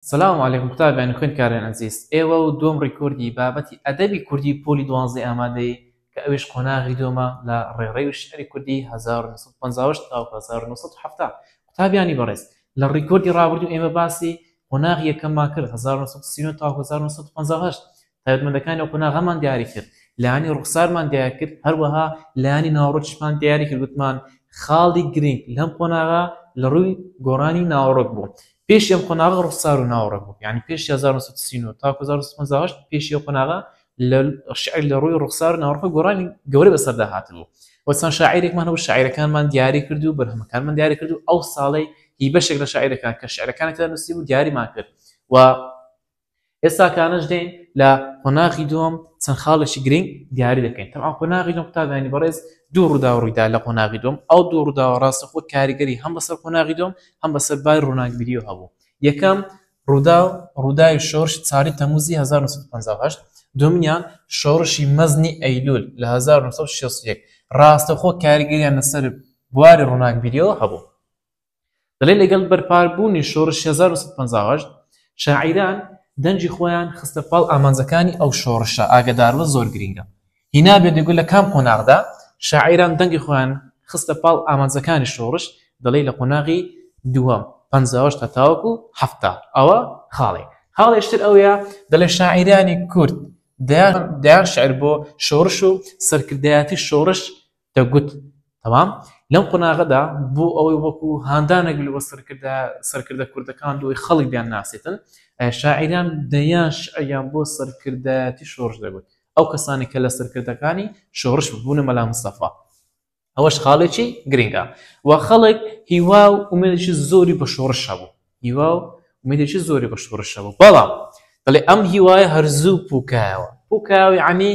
سلام علیکم قوتابیانی خوێندکارانی ئەزیز ئێوە و دووەم ڕیکۆردی بابەتی ئەدەبی کوردی پۆلی دوانزەی ئامادەی کە ئەویش قۆناغی دووەمە لە ڕێڕەوی شیعری کوردی هەزار و نۆ سەد و پەنجا و هەشت تاوەکو هەزار و نۆ سەد و حەفتا قوتابیانی بەڕێز لە ڕیکۆردی ڕابردوو ئێمە باسی قۆناغی یەکەممان کرد هەزار و نۆ سەد و سی و نۆ تاوەکو هەزار و نۆ سەد و پەنجا و هەشت تایبەتمەندەکانی ئەو قۆناغەمان دیاری کرد لانی ڕوخسارمان دیار کرد هەروەها لانی ناوڕۆکیشمان دیاری کرد گوتمان خاڵی گرنگ لەم قۆناغا لە ڕووی گۆڕانی ناوەڕۆک بوو پێش ئەم قۆناغە ڕوخسار و ناوەڕۆک بوو یعنی پێش 1939 تا 1950 پێشی ئەو قۆناغە لە شعر لە ڕووی ڕوخسار و ناوەڕۆک گۆڕانی گەورە بەسەردا هاتبوو وەچەند شاعیرێکمان هەبوو شاعیرەکانمان دیاری کرد و بەرهەمەکانمان دیاری کرد و ئەو ساڵەی هی بەشێک لە شاعیرەکان کە شعرەکانەکە نووسی بوو دیاریمان کرد و ئێستا کانەش دێن لە قۆناغی دووەم چەند خاڵێکی گرنگ دیاری دەکەین تەم قۆناغی دوم قوتابیانی بەڕێز دوو ڕوودا ڕوویدا لە قۆناغی دوم ئەو دوو ڕووداوە ڕاستە خۆ کاریگەری هەم بەسەر قۆناغی دوم هەم بەسەر بای ڕووناکبیری و هەبوو یەکەم ڕوودا و ڕووداوی شۆرش چاری تەموزی 1950 دومنیان شۆڕشی مەزنی ئەیلول لە 1960 ڕاستەخۆ کاریگەریان لەسەر بواری ڕووناکبیریەوە هەبوو دەڵێت لەگەڵ بەرپابوونی شۆڕشی هەزار و نۆ سەد و پەنجا و هەشت شاعیران دەنگی خۆیان خستە پاڵ ئامانجەکانی ئەو شۆڕشە، ئاگاداربە زۆر گرینگە هینابێت دەگوت لە کام قۆناغدا شاعیران دەنگی خۆیان خستە پاڵ ئامانجەکانی شۆڕش، دەڵێت لە قۆناغی دووەم، پەنجا و هەشت هەتاوەکو حەفتا، ئەوە خاڵێک، خاڵێکی تر ئەوەیە دەڵێت شاعیرانی کورد دەیان شیعر بۆ شۆڕش و سەرکردایەتی شۆڕش دەگوت، تەمام، لەم قۆناغەدا بۆ ئەوەی وەکو هاندانێک لەوە سەرکردە سەرکردە کوردەکان لەوەی خەڵک بیانناسێتن، شاعیران دەیان شیعریان بۆ سەرکردایەتی شۆڕش دەگوت. ئەو کەسانەی کە لە سەرکردەکانی شۆڕش بوون، بوونە مەلا مستەفا. ئەوەش خاڵێکی گرنگە و خەڵک هیوا و ئومێدێکی زۆری بە شۆڕش هەبوو. هیوا و ئومێدێکی زۆری پشت و ڕشە بوو، بەڵام دەڵێ ئەم هیوایە هەر زوو پووکایەوە، پووکایەوە یەعنی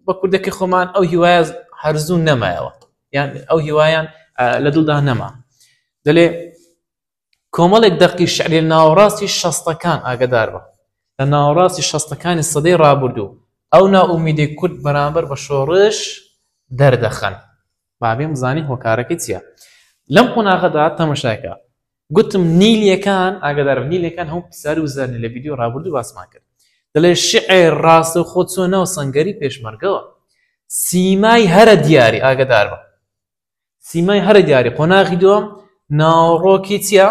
بە کوردەکەی خۆمان ئەو هیوایە هەر زوو نەمایەوە، یان ئەو هیوایەیان لە دڵدا نەما. دەلێ کۆمەڵێک دەقی شعری لە ناوەڕاستی شەستەکان ئاگەدار بە، لە ناوەڕاستی شەستەکانی سەدەی ڕابردوو ئەو نائومێدیەی کورد بەرامبەر بە شۆڕش دەردەخەن. با بێم بزانین هۆکارەکەی چییە لەم قۆناغەدا تەمەشاکە گوتم نیلیەکان ئاگدار نیلەکان هەم پیسار و زەرنی لە ویددیو ڕابردوو باسمان کرد دەڵێ شعێر ڕاستە و خۆ چۆ ناو سنگەری پێشمەرگەوە سیمای هەرە دیاری ئاگدار بە سیمای هەرە دیاری قۆناغی دوم ناوڕۆکی چیا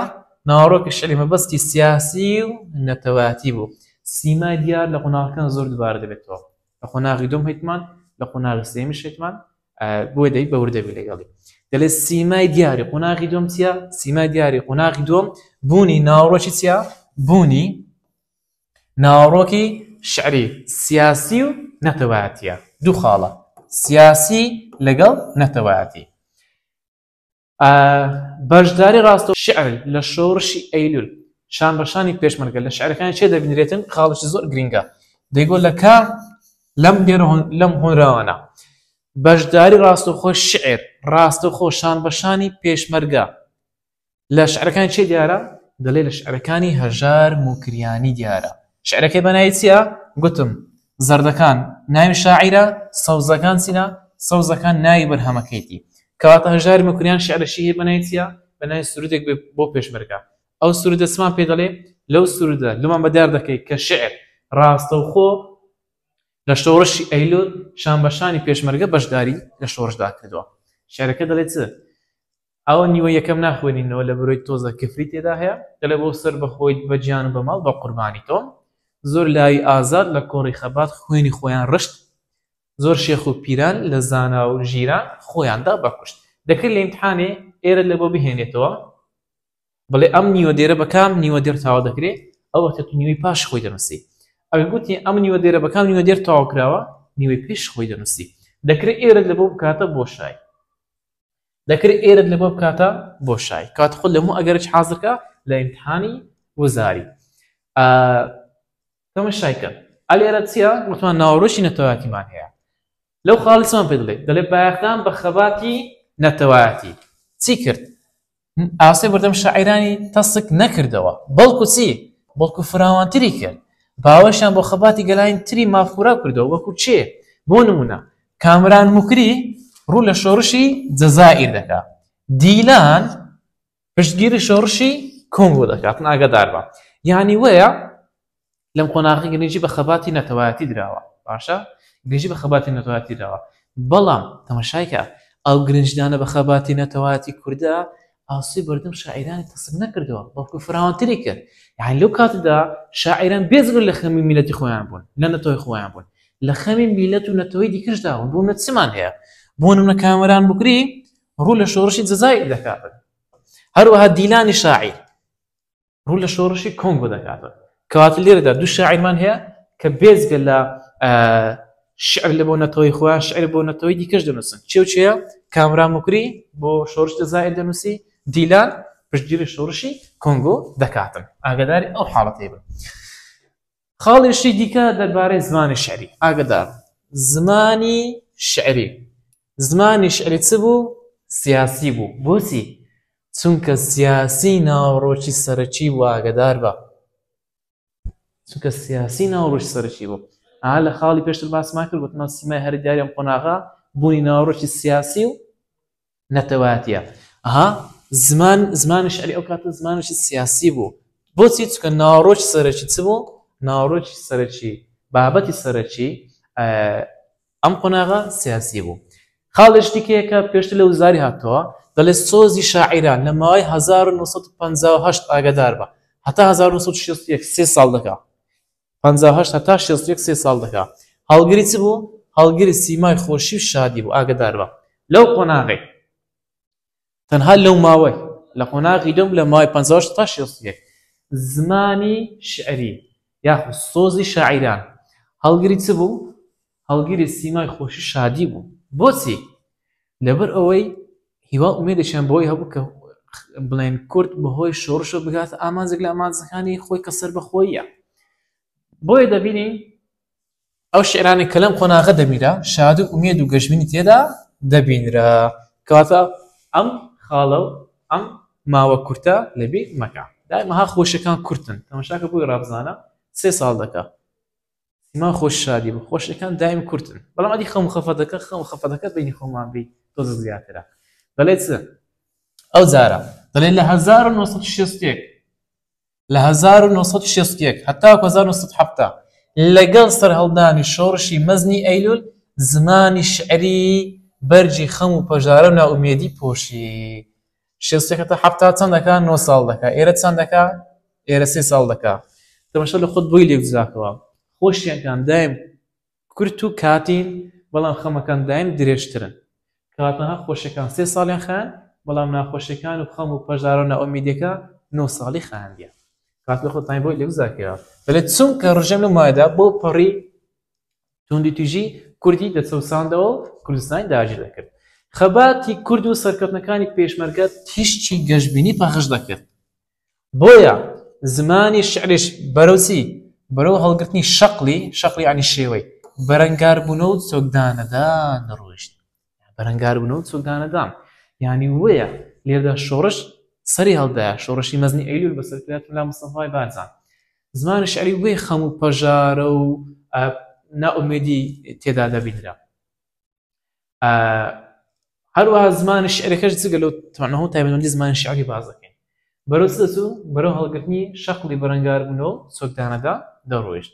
ناوڕۆکی شعری مەبەستی سیاسی و نەتەواتی بوو سیمای دیار لە قۆناغەکان زۆر دوبارە دەبێتەوە لە قۆناغی دوم هیتمان لە قۆناغی سێمی شێتمان بۆی دەی بە وردەبی لەگەڵی دەڵێ سیمای دیاری قۆناغی دوم چیە سیمای دیاری قۆناغی دوم بوونی ناوڕۆکی چیە بوونی ناوڕۆکی شعری سیاسی و نەتەواتە دوو خاڵە سیاسی لەگەڵ نەتەواتی بەشداری ڕاستە شعر لە شۆڕشی ئەیلول شان بەشانی پێشمەرگە لە شعرەکانی چێ دەبینرێتن خاڵشی زۆر گرنگە دەیگۆ لە کا لەم دێر لەم هۆنراوانە بەشداری ڕاستەخۆ شعر ڕاستە خۆشان بەشانی پێشمەرگە لە شعرەکان چێ دیارە دەڵێ لە شعرەکانی هەژار موکریانی دیارە شعرەکەی بەنای چییە گوتم زەردەکان ناوی شاعیرە، سەوزەکان چینە، سەوزەکان ناوی بەرهەمەکەیتی. کەواتە هەژاری مەکوریان شیعرەشی هەیە بەناوی چیا؟ بەناوی سروودێک بێ بۆ پێشمەرگە. ئەو سروودە چمان پێ دەڵێ؟ لەو سروودە لۆمان بەدیار دەکەی کە شیعر ڕاستەوخۆ لە شۆڕشی ئەیلول شانبەشانی پێشمەرگە بەشداری لە شۆڕشدا کردووە. شیعرەکە دەڵێ چ؟ ئەوە نیوە یەکەم ناخوێنینەوە لە برۆی تۆزە کفری تێدا هەیە دەڵێ بۆ سەر بە خۆیت بە گیان و بە ماڵ بە قوربانی تۆم زۆر لای ئازاد لە کۆڕی خەبات خوێنی خۆیان ڕشت زۆر شێخ و پیران لە زانا و ژیران خۆیاندا بەکوشت دەکرد لە ئیمتحانێ ئێرە لە بۆ بهێنێتەوە بڵێ ئەم نیوە دێرە بەکام نیوە دێر تاوا دەکرێت ئەو وەختە تو نیوەی پاش خۆی دەنووسی ئەگە گوتی ئەم نیوە دێرە بەکام نیوە دێر تاوا کراوە نیوەی پێش خۆی دەنووسی دەکرێت ئێرە لە بۆ بکاتە بۆشای دەکرد ئێرەت لەبۆ بکاتە بۆ شای کات خود لەموو ئەگەرچ حازرکە لە ئیمتحانی وزاری ئە کەمە شای کە ئەلێرە چیە وتمان ناوەڕۆشی نەتەواتیمان هەیە لەو خاڵسمان پێ دڵێت دەلێ بایەخدان بە خەباتی نەتەوایەتی چی کرد ئاستی بەردەم شاعیرانی تەسک نەکردەوە، بەڵکو چی؟ بەڵکو فراوانتری کرد، باوەشیان بۆ خەباتی گەلانی تری مافخورا کردەوە وەکو کێ؟ بۆ نموونە کامران موکری ڕوو لە شۆڕشی جەزائیر دەکا، دیلان پشتگیری شۆڕشی کۆنگۆ دەکا، ئاگاداربە یانی وەیە لەم قۆناغی گرنگی بە خەباتی نەتەوایەتی دراوە باشە گرنگی بە خەباتی نەتەوایەتی دراوە بەڵام تەمەشایکە ئەو گرنجدانە بە خەباتی نەتەوایەتی کوردە ئاسوی بەردەم شاعرانی تەسم نەکردەوە بەڵکو فراوانتری کرد یان لەو کاتدا شاعران بێزر لە خەمی میلەتی خۆیان بوون لە نەتەوەی خۆیان بوون لە خەمی میلەت و نەتەوەی دیکەشدا بوون بوون لە چمان هەیە بۆن منە کامەران بکری ڕوو لە شۆڕشی جەزای دەکات هەروەها دیلانی شاعیر ڕوو لە شۆڕشی کۆنگۆ دەکاتەوە کەواتە لێرەدا دوو شاعیرمان هەیە کە بێزگە لە شعر لە بۆ نەتەوەی خۆیان شعر بۆ نەتەوەی دیکەش دەنووسن چێوچەیە کامرا مکری بۆ شۆرش دەزای دەنووسی دیلان پشتگیری شۆڕشی کۆنگۆ دەکاتن ئاگداری ئەو حاڵەتی بن. خاڵێشی دیکە دەربارەی زمانی شعری ئاگدار زمانی شعری زمانی شعری چ بوو سیاسی بوو بۆچی چونکە سیاسی ناوڕۆکی سەرەکی بوو ئاگدار بە چونکە سیاسی ناوڕۆژ سەرکی بوو ئا لە خاڵی پێشتر باسمان کرد وتمان سیمای هەر دیارم قۆناغا بوونی ناوڕۆکی سیاسی و نەتەوایەتیە ها زمان زمانی شعری ئەو کاتە زمانشی سیاسی بوو بۆچی چکە ناڕۆژ سەرەکی چ بوو ناڕۆژ سەرەکی بابەتی سەرەکی ئەم قۆناغا سیاسی بوو خاڵش دیکەیەکە پێشتر لە وزاری هاتەوە دەڵێ سۆزی شاعیران لە ماوەی 1950 ئاگدار بە هەتا 1960 سێ ساڵ دەکا پەنجا و هەشت هەتا شێست و یەک سێ ساڵ دەکا هەڵگری چ بوو هەڵگری سیمای خۆشی و شادی بوو ئاگەدار بە لەو قۆناغی تەنها لەو ماوەی لە قۆناغی لەم لە ماوەی پەنجا و هەشت هەتا شێست و یەک زمانی شعری یاخود سۆزی شاعیران هەڵگری چ بوو هەڵگری سیمای خۆشی و شادی بوون. بۆچی؟ لەبەر ئەوەی هیوا و ئومێدێکیان بەوەی هەبوو کە بڵێن کورد بەهۆی شۆڕشەوە بگاتە ئامانجێک لە ئامانجەکانی خۆی کە سەربەخۆییە. بۆیە دەبینین ئەو شعرانەی کە لەم قۆناغە دەبیرا شاد و ئومێد و گەشبینی تێدا دەبینرا. کەواتە ئەم خاڵە و ئەم ماوە کورتە لەبیر مەکە. دایمەها خۆشیەکان کورتن تەمەشاکە بۆی ڕابزانە سێ ساڵ دەکا. سیما خۆش شادی بە خۆشەکان دایم کورتن بەڵام ئەدی خەم خەفەتەکە خەم خەفەتەکە بینی خۆمان بی تۆزە زیاترە دەڵێت چ ئەو جارە دەڵێ لە 1960 لە 1960 هەتا 1970 لەگەڵ سەرهەڵدانی شۆڕشی مەزنی ئەیلول زمانی شعری بەرجی خەم و پەژارە و ناومێدی پۆشی شێست یەکە تا حەفتا چەند دەکا نۆ ساڵ دەکا ئێرە چەند دەکا ئێرە سێ ساڵ دەکا تەمەشا لە خۆت بۆی لێک جاکەوە خۆشیەکان دایم کورت و کاتین بەڵام خەمەکان دایم درێژترن کاتەها خۆشەکان سێ ساڵیان خان بەڵام ناخۆشەکان و خەم و پەژارە و ناومیدەکە نۆ ساڵی خاندیە کات لە خۆتانی بۆی لێک جاکەوە دەلێت چونکە ڕژێم لە مایدا بۆ پەڕی توندوتیژی کوردی دەچەوساندەوە و کوردستانی داگیر دەکرد خەباتی کورد و سەرکەوتنەکانی پێشمەرگە تیشکی گەشببینی پەخش دەکرد بۆیە زمانی شعرش بەرەوسی بەرەو هەڵگرتنی شەقلی شەقلی عنی شێوەی بەرەنگاربوونەوە سۆکدانەدا نەڕۆشت بەرەنگاربوونەوە و چۆکدانەدان یانی وەیە لێردا شۆڕش سەری هەڵدایە شۆڕشی مەزنی ئەیلول بە سەرکرات ملا مستەفای بارزان زمانی شعری وەی خەم و پەژارە و نائومێدی تێدا دەبینرا هەروە زمانی شعرەکەش جگە لەو توانەوە تایبەتمەندی زمانی شعری بازەکەین بەرەو دەچوو بەرەو هەڵگرتنی شەقڵی بەرەنگاربوونەوە سۆکدانەدا دەڕۆیشت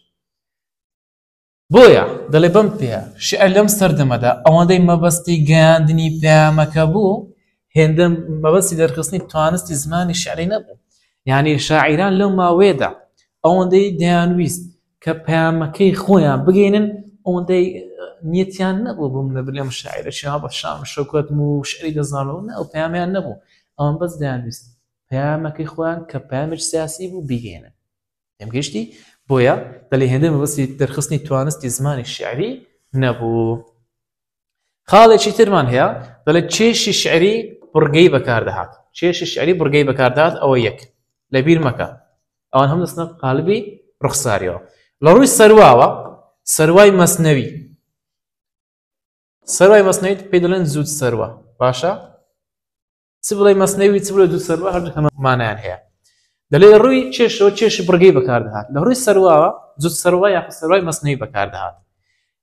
بۆیە دەڵێ بەم پێیە شیعر لەم سەردەمەدا ئەوەندەی مەبەستی گەیاندنی پەیامەکە بوو هێندە مەبەستی دەرخستنی توانستی زمانی شعری نەبوو یعنی شاعیران لەو ماوەیەدا ئەوەندەی دەیانویست کە پەیامەکەی خۆیان بگەینن ئەوەندەی نیەتیان نەبوو بووم لە بلێم شاعرە شا بە شام شەکوت و شعری دەزانەوە نە ئەو پەیامیان نەبوو ئەوان بەس دەیانویست پەیامەکەی خۆیان کە پامج سیاسی بوو بگەێنن تێم گەیشتی بۆیە دەلی هێندە مەبەستی دەرخستنی توانستی زمانی شعری نەبوو خاڵێکی ترمان هەیە دەڵێت چێشی شعری بڕگەی بەکاردەهات چێشی شعری بڕگەی بەکاردات ئەوە یەک لە بیر مەکە ئەوان هەم دەستنە قالبی ڕوخساریەوە لە ڕووی سەرواوە سەروای مەسنەوی سەروای مەسنەویت پێ دەڵێن زود سەروە باشە چ بڵێ مەسنەوی چ بڵێ دوو سەروا هەردوو هەمەمانیان هەیە دەلێ ڕووی چێشەوە چێشی بڕگەی بەکاردەهات لە ڕووی سەرواوە جوت سەروا یا سەروای مەسنەوی بەکاردەهات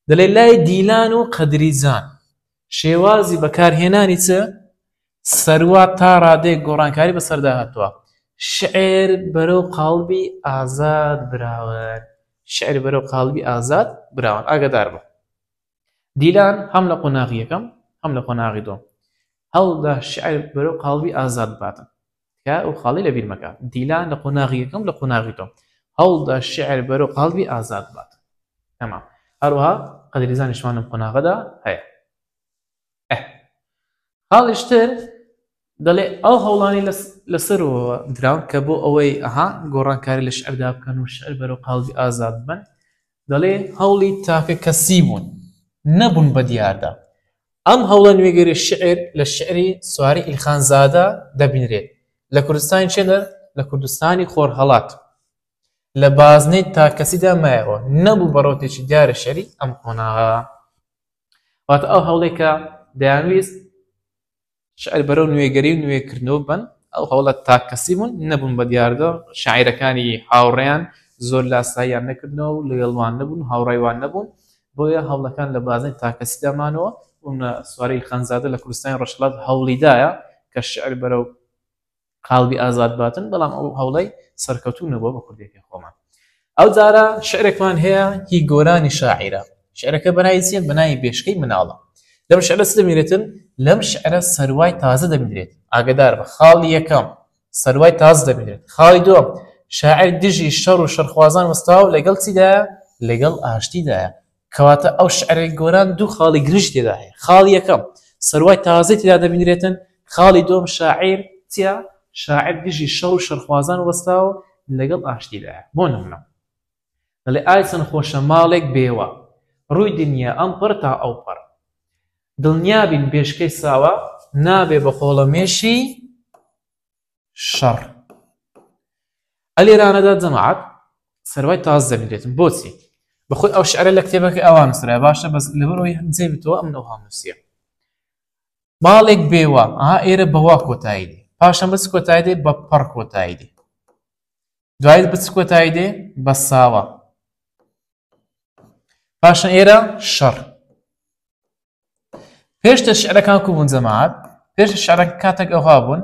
دەلێ لای دیلان و قەدریزان شێوازی بەکارهێنانی چ سەروا تا ڕادێک گۆڕانکاری بەسەردا هاتووە شعر بەرەو قاڵبی ئازاد براوە شعر بەرەو قاڵبی ئازاد براوان ئاگدار بە دیلان هەم لە قۆناغی یەکەم هەم لە قۆناغی دووەم هەوڵدا شیعر بەرەو قاڵبی ئازاد بباتن تکایە ئەو خاڵەی لەبیر مەکە دیلان لە قۆناغی یەکەم لە قۆناغی دووەم هەوڵدا شیعر بەرەو قاڵبی ئازاد بباتن تەمام هەروەها قەدریزانیشمان لەم قۆناغەدا هەیە خاڵیش تر دەڵێ ئەو هەوڵانی لەسەرەوە دراون کە بۆ ئەوەی ئەها گۆڕانکاری لە شعردا بکەن و شعر بەرەو قاڵبی ئازاد بن دەڵێ هەوڵی تاکە کەسی بوون نەبوون بە دیاردا ئەم هەوڵە نوێگەری شعر لە شعری سواری ئیلخانزادە دەبینرێت لە کوردستانی چێنە لە کوردستانی خۆرهەڵات لە بازنەی تاکەسیدا مایەوە نەبوو بەڕۆتێکی دیارە شەری ئەم قۆناغە واتە ئەو هەوڵێکە دەیانویست شعر بەرەو نوێگەری و نوێکردنەوە بن ئەو هەوڵە تاکەسی بوون نەبوون بە دیاردە شاعیرەکانی هاوڕێیان زۆر لاساییان نەکردنەوە و لەگەڵوان نەبوون هاوڕێوان نەبوون بۆیە هەوڵەکان لە بازنەی تاکەسیدامانەوە سواری خەنزادە لە کوردستانی ڕەشڵات هەوڵیدایە کە شعر بەرەو قالبی ئازاد باتن بەڵام ئەو هەوڵەی سەرکەوتوو نەبووە بە کوردێکی خۆمان ئەو جارە شعرێکمان هەیە هی گۆرانی شاعیرە شعرەکە بەنای چیە بەنای بێشکەی مناڵە لەم شعرە دەمێنێتن لەم شعرە سەروای تازە دەبدرێت ئاگدار بە خاڵی یەکەم سەروای تاز دەبدرێت خاڵی دووەم شاعر دژی شەڕ و شەرخوازان وەستاو لەگەڵ چیدا لەگەڵ ئاشتیدایە کەواتە ئەو شعرەی گۆران دوو خاڵی گرنگی تێدا هەیە، خاڵی یەکەم سەروای تازەی تێدا دەبینرێتن، خاڵی دووەم شاعیر چیە؟ شاعیر دژی شەڕ و شەڕخوازان وەستاوە و لەگەڵ ئاشتیدایە، بۆ نمونە دەڵێ، ئای چەند خۆشە ماڵێک بێوە، ڕووی دنیا ئەمپەڕ تا ئەوپەڕ، دڵنیابین بێشکەی ساوا، نابێ بە خۆڵەمێشی شەڕ ئەلێرانەدا جەماعەت سەروای تاز دەبێتم بۆچی بەخۆی ئەو شعرە لە کتێبەکە ئەوان نووسرا باشە بەس لەبەرەوەی هەندێ بتەوە ئەم ئەوها نووسە ماڵێک بێوە ئا ئێرە بەوا کۆتایی دێ پاشە بەس کۆتای دێ بە پەڕ کۆتایی دێ دوایت بچ کۆتایی دێ بە ساوە پاشە ئێرە شەڕ پێشتر شعرەکان کو بوون جەماعەت پێش شعرەک کاتێک ئەوها بوون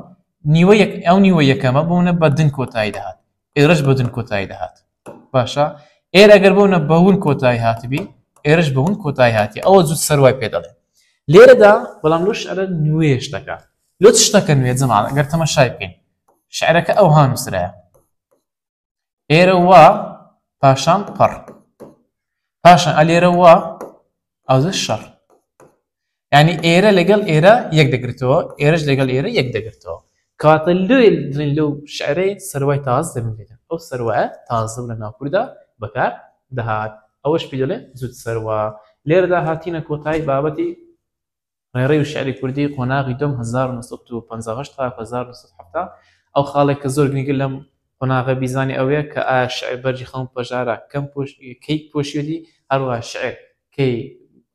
نیوە یەک ئەو نیوە یەکەمە بوونە بە دن کۆتایی دەهات ئێرش بە دن کۆتایی دەهات باشە ئێر ئەگەر بوونە بەون کۆتایی هاتبی ئێرش بەون کۆتایی هاتی ئەوە زود سەروای پێ دەڵێ لێرەدا بەڵام لەو شعرە نوێش دەکا لۆ شتەکە نوێ جەماعەت ئەگەر تەمەشای بکەین شعرەکە ئەوها نووسرایە ئێرە وا پاشان پەڕ پاشان ئەلێرە وا ئەوزە شەڕ ینی ئێرە لەگەڵ ئێرە یەک دەگرتەوە ئێرەش لەگەڵ ئێرە یەک دەگرتەوە کاتە لێ لەو شعرەی سەروای تاز دەبێت ئەو سەروە تازە لە ناوکوردا بەکار دەهات ئەوەش پێ دەڵێ زود سەروا لێرەدا هاتینە کۆتایی بابەتی ڕێڕەی و شیعری کوردی، قۆناغی دووەم هەزار و نۆ سەد و پەنجا و هەشت تاکو هەزار و نۆ سەد و حەفتا، ئەو خاڵەی کە زۆر گرینگە لەم قۆناغە بیزانێ ئەوەیە کە ئایا شیعر بەرگی خەون و پەژارە کەم کەی پۆشیوەتی، هەروەها شیعر کەی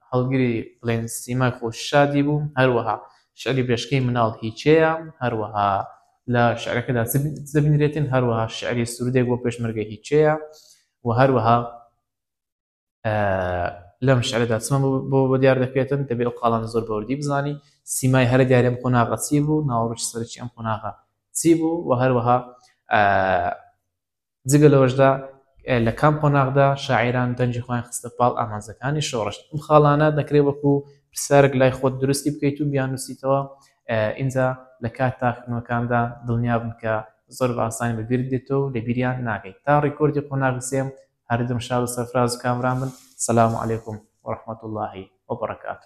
هەڵگری بڵێین سیمای خۆش و شادی بوو، هەروەها شیعری برێژ کەی مناڵ هی کێیە، هەروەها لە شیعرەکەدا چ دەبینرێتین، هەروەها شیعری سروودێک بۆ پێشمەرگە هی کێیە و هەروەها. لەم شعرەدا چمە بۆ بە دیار دەکرێتن دەبێ ئەو قاڵان زۆر بەوردی بزانی سیمای هەرە دیارم قۆناغە چی بوو ناوەڕۆژ سەرچی ئەم قۆناغە چی بوو و هەروەها جگە لەوەشدا لە کام قۆناغدا شاعران دەنجی خۆیان خستە پاڵ ئامانزەکانی شۆڕشت ئەم خاڵانە دەکرێت وەکو پرسیارێک لای خۆت درستی بکەیت و بیانوسیتەوە ئینجا لە کات تاکنەکاندا دڵنیا بن کە زۆر باسانی بەبییر دێتەوە لە بیریان ناگەیت تا ڕیکۆردی قۆناغسێم هەردەم شاد و سەرفراز و کامران بن سلام علیکم و رحمەتوڵڵاهی و بەڕەکاتوه.